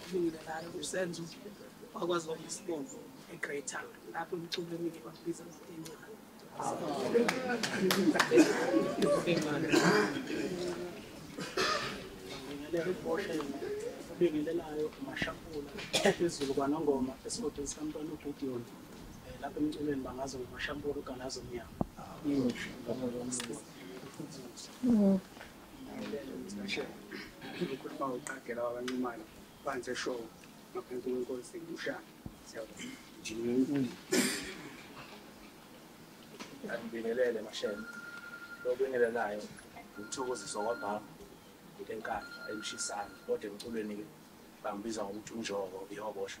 kulungile ngayo usenzo wakwazi wona isibongo eGreater lapho umculo emike bakubiza ngokuyincane ngibingelela ibhosha obingelelayo umashampula phezulu kwanongoma esigodini sikamntwana ugidiyoni um lapho emculweni bangazi ngomashampula ugalazo mnyama ukhuluma uqagela wabancimane phansi eshowo ngaphansi kwenkosi ushaka siyabona angibingelele mashele lokubingelelayo ngithokoziswa kwabhama ngenkandla emshisana kodwa emculweni-ke bangibiza ngokuthi unjoko ihobosha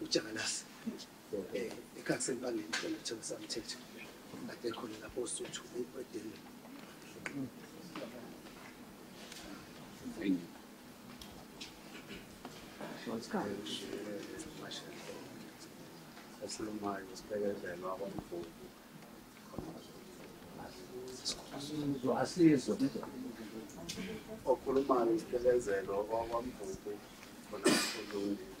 ujangalasi um eh, ekhakseni bangeni cela uthenga samthetho ade khona lapho osuthu edeni esilumayo sibekezelwa kwamvubu asizwe okhulumayo isibekezelo kwakwamvubu khona kulungile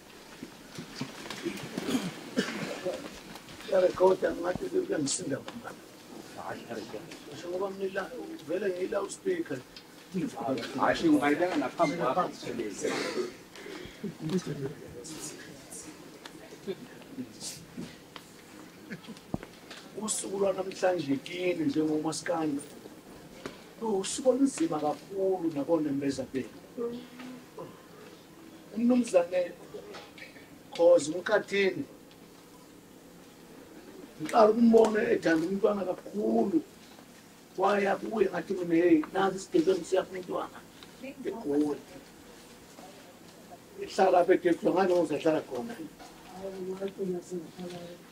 Yarekhoda ngathi kuyangisinda ngoba. Hayi yarekhoda. Ngisho ngoba mina vele ngila uspeaker. Hayi shinga ngayibeka naphambi kwakho sithelezi. usuku lwanamhlanje kini njengomasikandi usuku olunzima kakhulu nakonembeza benu umnumzane khoza umkhathini ngiqala ukumbona ethanda umntwana kakhulu waya kuye ngathi mina heyi nazi isigebengu siyakho umntwana egoli ihlala apha edefula ngane ngozahlala khona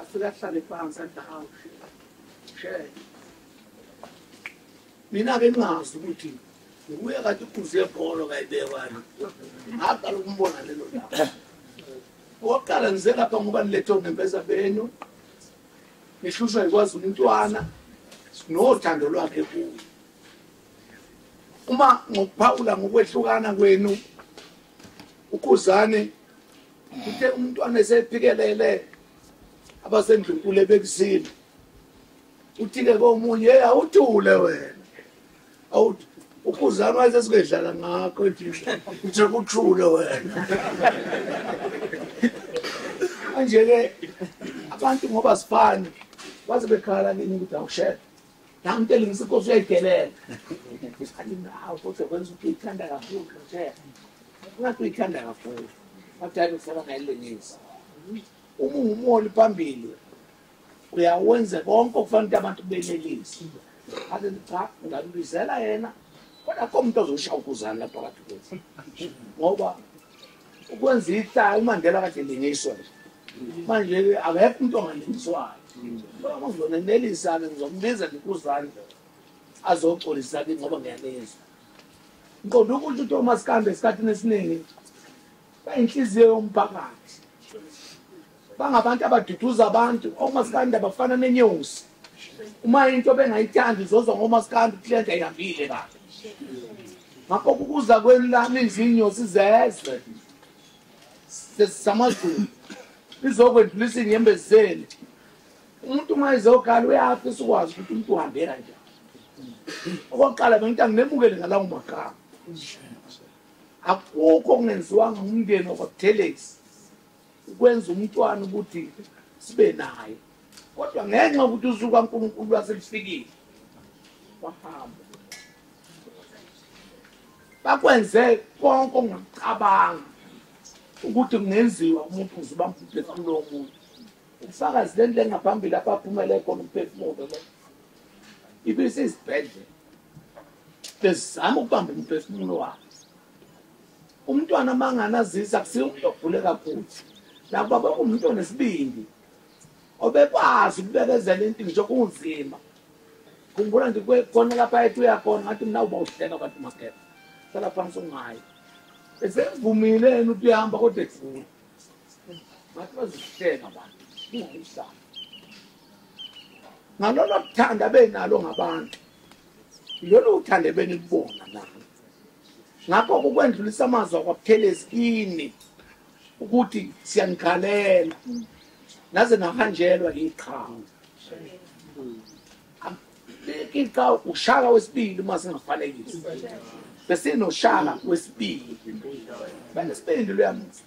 afike ahlale phansi athi hawu shela mina ke ningazi ukuthi nguye kade ukhuze ebholo kayibekwani ngaqala ukumbona lelo laba okokuqala ngize lapha ngoba nilethe onembeza benu nihlushwa yikwazi umntwana nothando lwakhe kuye uma ngokuphawula ngokwehlukana kwenu ukhuzane uthe umntwana esephikelele abasendlunkulu ebekuzile uthike komunye hey awuthule wena awuthi ukhuzane wayesesingedlala ngakho uthe kuthule wena manje-ke abantu ngoba sifani baze bekhala kini ukuthi awushele Ngangitshela ngisi inkosi uyayidelela. Ngisathi nawo futhi kwenza ukuthi ithanda kakhulu nje. Ngathi uyithanda kakhulu. Abadala ufuna ngayilengisa. Uma ungumholi phambili uyawenza konke okufanele ukuthi abantu benelise. Ake cha ngambizela yena kodwa akho umuntu ozoshaya ukuzana lapha phakathi kwethu. Ngoba ukwenza ihlaya umandela kade lingiswa manje-ke akekho umuntu ongalingiswayo uzonenelisa-ke ngizombiza ndikuzandla azoxolisa ke ngoba ngiyanizwa ngiqonda ukuthi utomas kambe esikhathini esiningi bayinhliziyo yomphakathi bangabantu abaduduza abantu omasikandi abafana nenyosi uma into bengayithandi uzozwa ngomasikandi ukuthi lento ayihambile kabi ngakho kukuza kwenu lami izinyosi zezwe samazulu lizokwendlulisa iy'nyembezi zenu umuntu uma ezokhala uyafisa ukwazi ukuthi umuntu uhambe kanjani okokuqala bengithi anginemukele ngalawo magama akukho okungenziwanga ngumndeni wakwabutelesi ukwenza umntwana ukuthi sibe naye kodwa ngenxa yokuthi usuku kankulunkulu lwaselufikile wahamba bakwenze konke ongakucabanga ukuthi kungenziwa umuntu uze ubamphuphe kulowo muntu ubufakazi le nto engaphambili apho aphumele khona umphefumulo lo ibisizibhedlela bezizama ukubamba umphefumulo wakhe Umntwana amanganazisa akusiyo umuntu ogule kakhulu nakuba baba umuntu onesibindi obekwazi ukubekezela into ngisho kunzima khumbula nje khona lapha ethi uyakhona ngathi mina uba uhleka abantu makhepha sala phansi ungayi esevumile yena ukuthi uyahamba kodwa ekugula ngathi bazihleka abantu kungayihlala ngalolo kuthanda benalo ngabantu lolu uthande benilibona nalo ngakho kukwendlulisa amazwi akwabuthelezi kini ukuthi siyanikhalela naze nahanjelwa yiqhawe iqhawe ushaka wesibili uma singafanekisi besinoshaka wesibili banesibindi luyamusa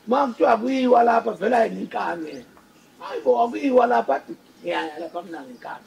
uma kuthiwa kuyiwa lapha vela yinkane hayi bo akuyiwa lapha ngiyaya lapha mina ngenkane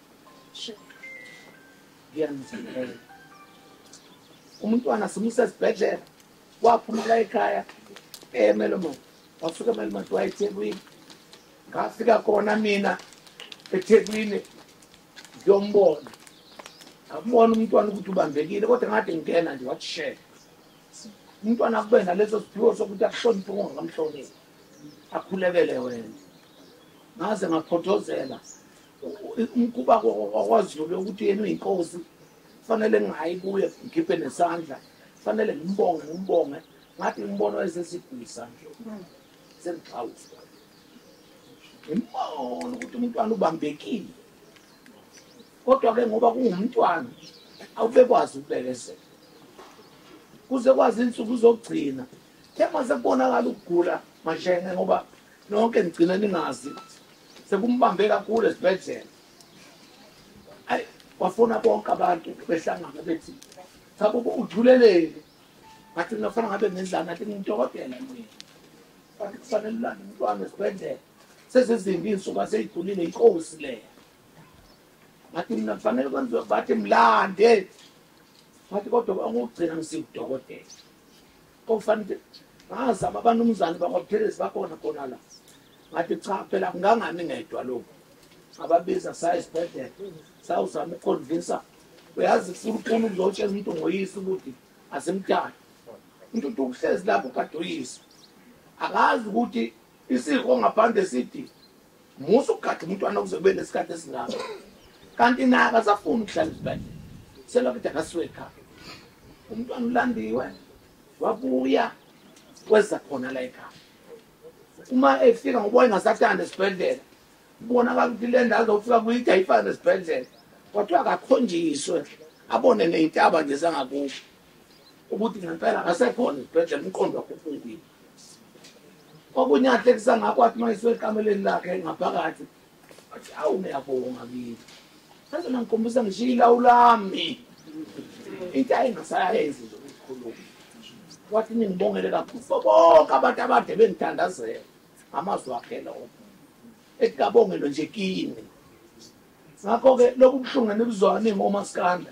umntwana simusa esibhedlela waphumela ekhaya emelomont wafika emelomont wayethekwini ngafika khona mina ethekwini ngiyombona ngakubona umntwana ukuthi ubambekile kodwa ngathi ngingena nje wathi shele umntwana akube naleso siphiwo sokuthi akuhloniphe ongangamhloniphi akhulekele wena ngaze ngaphothozela umkhuba wakwaZulu ukuthi yena uyinkosi fanele ngingayi kuye ngikhiphe nesandla fanele ngimbonge ngimbonge ngathi ngimbono esesigwisa nje sengixhawusa ngimbono ukuthi umntwana ubambekile kodwa-ke ngoba kungumntwana awubekwazi ukubekezela kuze kwazi insuku zokugcina thema sekubonakala ukugula mashenge ngoba nonke nigcine ningazi sekumbambe kakhulu esibhedlela ayi wafuna bonke abantu behlangana bethi cha baba uthuleleni ngathi mina kufanele ngabe ngendlala ngathi ngidokotela mina kanti kufanele ulande umntwana esibhedlela sezizimbi iy'nsuku aseyigulile inkosi leya ngathi mina kufanele kwenziwe bathi mlande ngathi kodwa angokugcina ngisewudokotela kofanele ngazama abanumzane bakwabuthelezi bakhona khona la ngathi cha phela kungangami ngedwa lokhu ababiza saya esibhedlela sawuzama ukuconvinsa uyazi ufuna ukuzotshela umuntu ngoyise ukuthi asimthandi umuntu uthi ukuhlezi lapho kade uyise akazi ukuthi isiko ngaphandle sithi musa ukugada umntwana ukuze kube nesikhathi esingako kanti naye akasafuni ukuhlala esibhedlela selokade akasuke ekhaya umntwana ulandiwe wabuya kweza khona la ekhaya uma efika ngoba engasathanda esibhedlela kubonakala ukuthi le ndawo zofika kuyide ayifane nesibhedlela kodwa akakhonjiswe abone ney'ntaba nje zangakusho ukuthi ngempela akasekhona esibhedlela umqondo wakho ufungile okunye ahlekisa ngakho athi uma esuekameleni lakhe ngaphakathi athi awu ngiyabonga kini sazona ngikhombisa ngishiye ilawu lami into ayingasayenzi nje ukukhuluma wathi ningibongele kakhulu bonke abantu abade bengithandazela amazwi akhe lowo ethi kabongelwe nje kini ngakho-ke lobu buhlungu enibuzwayo ningomasikanda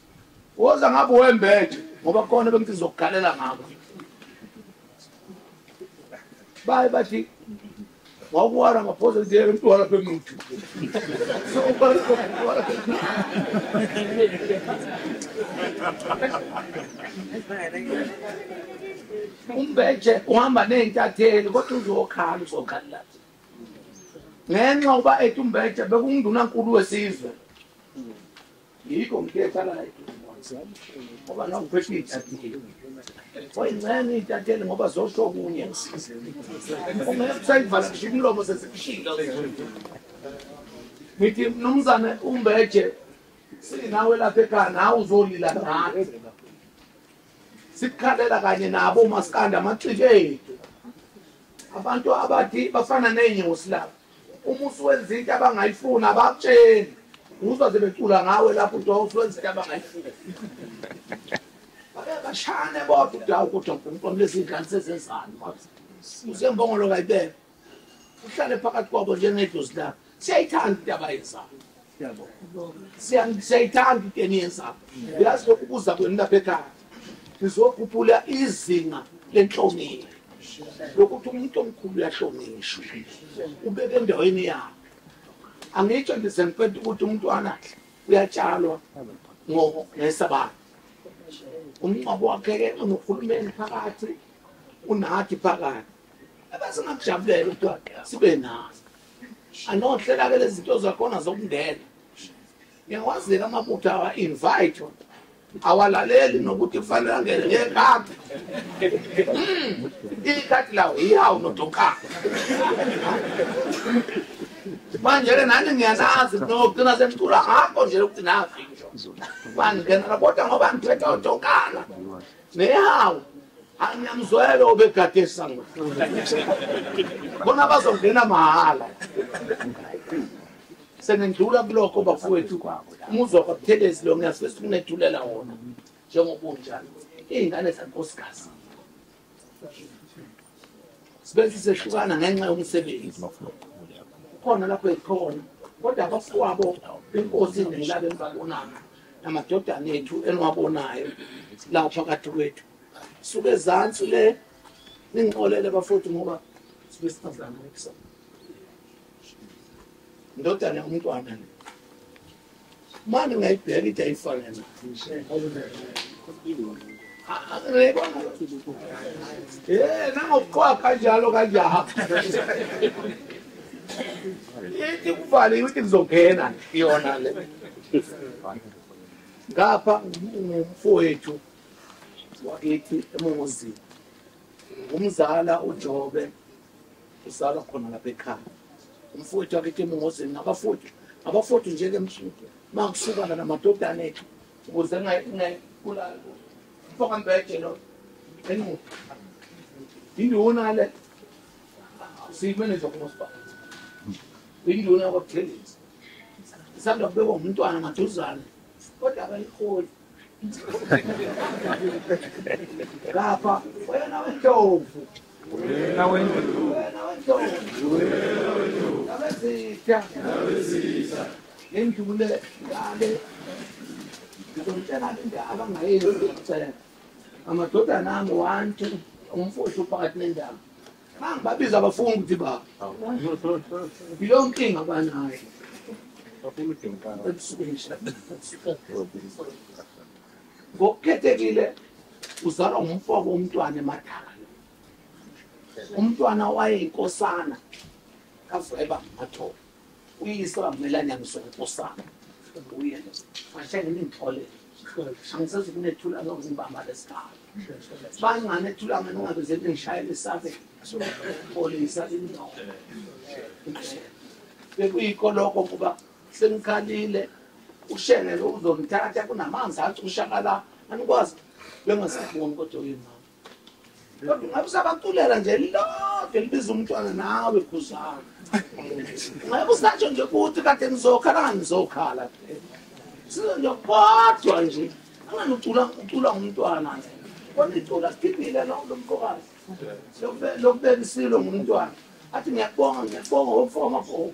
Woza ngabe wembethe ngoba kona bengithi ngizokugalela ngakho. Baye bathi wawuwara ngaphosa nje emntwana bemnuthu. So ubani wawuwara umbethe uhamba ney'ntatheli kodwa uzokhala uzokhalela ngenxa uba ethi umbethe bekunguNdunankulu wesizwe Yikho ngikhethala la eduze ngoba noma ngiphethe iy'ntatheli wayincenye iy'ntatheli ngoba zosho okunye ungeke kusayivala ngisho imilomo sesikushinga ngithi mnumzane umbeje sinawe lapha ekhaya nawe uzolila ngani sikukhalela kanye nabo umasikandi amaxiki ethu abantu abathi bafana ney'nyosi lapha uma usuwenza into abangayifuni abakutsheni uzwa sebecula ngawe lapho uthi wawusuwenza into abangayifuni bashane bodwa udawu ukuthi unkulunkulu lezi ngane sezenzani usembongolo kayibeka uhlale phakathi kwabo njengedlozi lakho siyayithanda into abayenzayo siyayithanda into eniyenzayo yazi lokubuza kwenu lapha ekhaya sizokhuphula izinga lenhlonipho lokuthi umuntu omkhulu uyahlonishwa ubeke endaweni yakhe angitsho ndize ngiphethe ukuthi umntwana uyatshalwa ngesabatha umngcwabo wakhe-ke unohulumeni phakathi unathi phakathi ebesingakujabulela ukuthi sibe nazo anohlela ke lezinto zakhona zokungena ngiyawazela amabutho awa invite awalaleli nokuthi kufanele angene ngekati hmm, ikati lawo iyawu nodonkana manje ke nani ngiyanazi nogcina sengicula ngakho nje lokuthi nazi ngisho bangingenela kodwa ngoba ngiphethe odonkana Nehawu. Angiyamzwela obegade esango. Bona bazongena mahhala. Senendlula kulokho bafowethu. Umuzwa kwaButhelezi lo ngiyasifisa ukunethulela wona njengoba unjalo. Izingane zankosikazi. Sibese sehlukana ngenxa yomsebenzi. Khona lapho ekhona. Kodwa abafowabo inkosi nelabe ngibabonana. namadodana ethu eniwabonayo lapha phakathi kwethu suke ezansi le ningixolele bafowethu ngoba sibe singazami kusona indodana yomntwana le manje ngayibheka into ayifanele Eh nangokuqwa kanjalo kanjalo. Ithi kuvale ukuthi kuzongena iyona le. Ngapha ngumfowethu wakithi emongozini. Umzala uJobe usala khona lapha ekhaya. Umfowethu wakithi emongozini ngabafowethu. Abafowethu njenge msuku. Makusuka namadodana ethu. ukuze ngayibulali mfoka mbeje lo enqu induna le siyimeneza kumasipala induna kwabuthelezi isanda kubekwa ngumntwana maduzane kodwa abayiholi ngapha wena wendlovu Wena wendlu. Wena wendlu. Wena wendlu. Nabezitha. Nabezitha. Ngendlule ngale. Ngizomtshela indaba ngayenzi ngicela. Amadodana ami wantu umfowethu uphakathi nendawo. Mangibabiza abafunga ukuthi baba. Yiyo inkinga abanayo. Bafuna udinga. Ebusuku nje. ngokukhethekile uzalwa ngumfoko umntwana emadala umntwana wayeyinkosana kaveba mathoba uyise bamelanyaniso nkosana uye ashengele inhlolelo angisezi kunethula ngokuzibamba lesikhala bangane ethula ngani ngabe zethu ngishayele isabe polisa indoda bekuyikoloko kuba Sengikhalile ushengele uzomthatha kunamanzi acushakala anikwazi bengasaboni kodwa uyimama. Kodwa ungabe usabaculela nje lilodwa libiza umntwana nawe khuzana. Ungabe usatsho nje ukuthi kade ngizokhala ngangizokhala. Sizo nje kodwa nje angani ucula ucula ngumntwana nje. Kodwa icula siphile lo mfokazi. Lokubeka isilo ngumntwana. Athi ngiyakubonga ngiyakubonga wofoma gogo.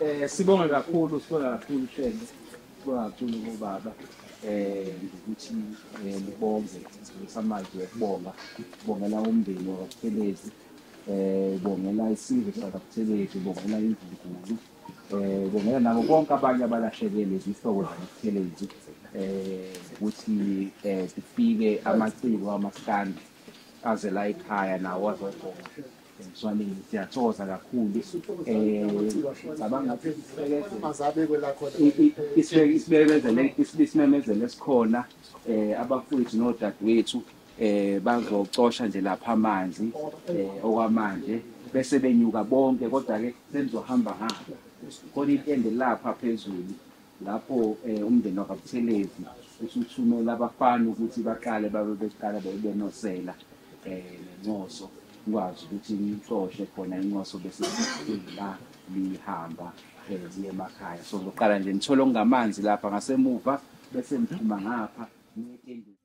Eh sibonga kakhulu sibonga kakhulu shenge sibonga kakhulu kubaba eh ukuthi libonge samanje ukubonga kubongela umndeni wakuphelezi eh bongela isizwe sakuphelezi bongela imvubu eh bongena nabo bonke abanye abalahlekelwe izihlobo zamaphelezu eh ukuthi eh kufike amaciko amaskandi aze la ekhaya nawo azogoma emswaneni siyathokoza kakhulu eh cabanga ukuthi isibekezele isimemezelo esikhona eh abafowethu nodadewethu eh bazocosha nje lapha amanzi eh okwamanje bese benyuka bonke kodwa ke senizohamba hamba khona itende lapha phezulu lapho eh umndeni wakabuthelezi usuthumela abafana ukuthi baqale babe beqala bebenosela eh nencoso ngikwazi ukuthi ngixoshe khona incoso bese la lihamba eh ziye emakhaya so ngiqala nje ngithola ongamanzi lapha ngasemuva bese ngiphuma ngapha ngiye etendeni